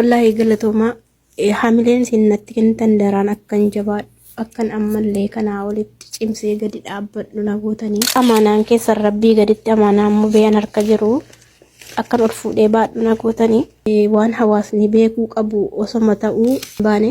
Wallaahi galatoomaa Eh, hamileen isin natti kennitan daraan akkan jabaadhu akkan ammallee kanaa olitti cimsee gadi dhaabbadhu na gootanii amaanaan keessan rabbii gaditti amaanaan mubeen harka jiru akkan ol fuudhee baadhu na gootanii Eh, waan hawaasni beekuu qabu osoma ta'uu hin baane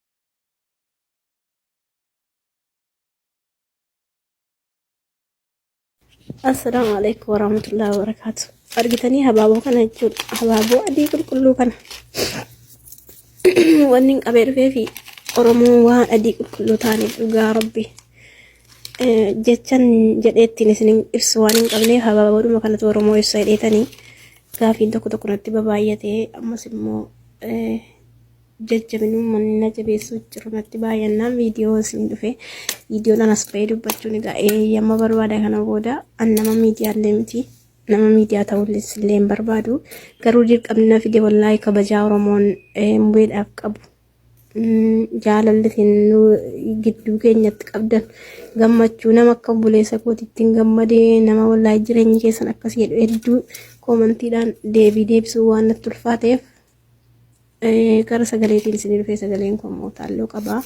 Assalaamu alaikum warahmatullahi wabarakaatu. Argitanii habaaboo kana jechuun habaaboo adii qulqulluu kana. Wanni hin qabee dhufee fi Oromoo waan adii qulqulluu ta'aniif dhugaa rabbi. Jechan jedhee ittiin isin ibsu waan hin qabneef habaaboodhuma kanatu Oromoo ibsa jedheetanii gaafiin tokko tokko natti babaay'atee ammas immoo jajjabinumman na jabeessuu jiru natti baay'annaan viidiyoo isin dhufe viidiyoodhaan as ba'ee dubbachuun egaa eeyyama barbaada kana booda an nama miidiyaallee miti nama miidiyaa ta'ullee illee hin barbaadu garuu dirqamni na fide wallaahi kabajaa oromoon mubeedhaaf qabu jaalallitiin nu gidduu keenyatti qabdan gammachuu nama akka obboleessa kootittiin gammadee nama wallaahi jireenyi keessan akkas jedhu hedduu koomantiidhaan deebii deebisuu waan natti ulfaateef Eh, Gara sagaleetiin isin dhufee sagaleen koo immoo taalloo qaba.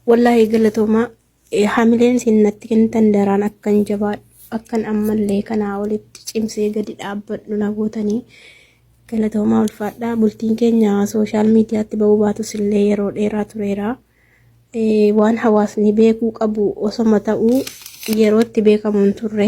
Wallaahi galatoomaa eh, hamileen isin natti kennitan daraan akkan jabaadhu akkan ammallee kanaa olitti cimsee gadi dhaabbadhu na gootanii galatoomaa ulfaadhaa bultiin keenya sooshaal miidiyaatti ba'uu baatus illee yeroo dheeraa tureera. Eh, Waan hawaasni beekuu qabu osoma ta'uu yerootti beekamu hin turre.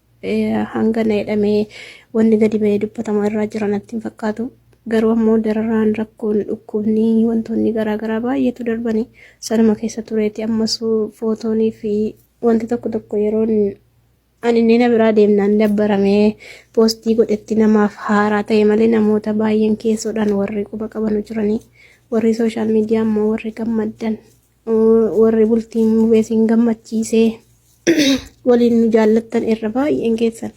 hanga na jedhamee wanni gadi ba'ee dubbatamaa irraa jira natti hin fakkaatu. Garuu ammoo dararaan rakkoon dhukkubni wantoonni garaagaraa baay'eetu darbanii sanuma keessa tureeti ammas footoonii fi wanti tokko tokko yeroon ani inni na biraa deemnaan dabbaramee poostii godhetti namaaf haaraa ta'e malee namoota baay'een keessoodhaan warri quba qabanu jiranii warri sooshaal miidiyaa ammoo warri gammaddan warri bultiin mubee siin gammachiisee waliin nu jaallattan irra baay'een keessan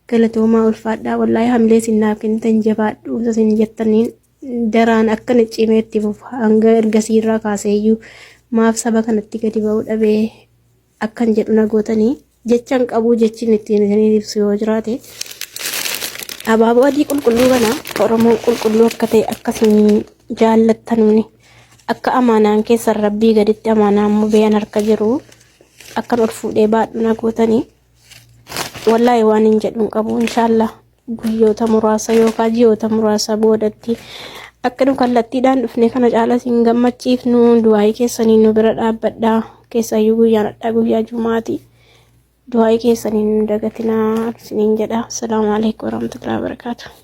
galatoomaa ulfaadhaa wallaahi hamilee siin naaf kennitan jabaadhu isa siin jettaniin daraan akkana cimee itti fufa hanga ergasii irraa kaaseeyyuu maaf saba kanatti gadi ba'uu dhabee akkan jedhu na gootanii jechan qabuu jechin ittiin isiniin ibsu yoo jiraate abaaboo adii qulqulluu kana oromoon qulqulluu akka ta'e akkasiin jaallattanuni akka amaanaan keessan rabbii gaditti amaanaan mubeen harka jiru akkan ol fuudhee baadhu na gootanii wallaahi waan hin jedhuun qabu inshaallah Guyyoota muraasa yookaan ji'oota muraasa boodatti akka nu kallattiidhaan dhufne kana caalas hin gammachiifnu du'aa'ii keessaniin nu bira dhaabbadhaa keessaayyuu guyyaan hadhaa guyyaa jumaati du'aa'ii keessaniin nu dagatinaa isiniin jedha. Asalaamu alaikum warahmatullahi wabarakatuh.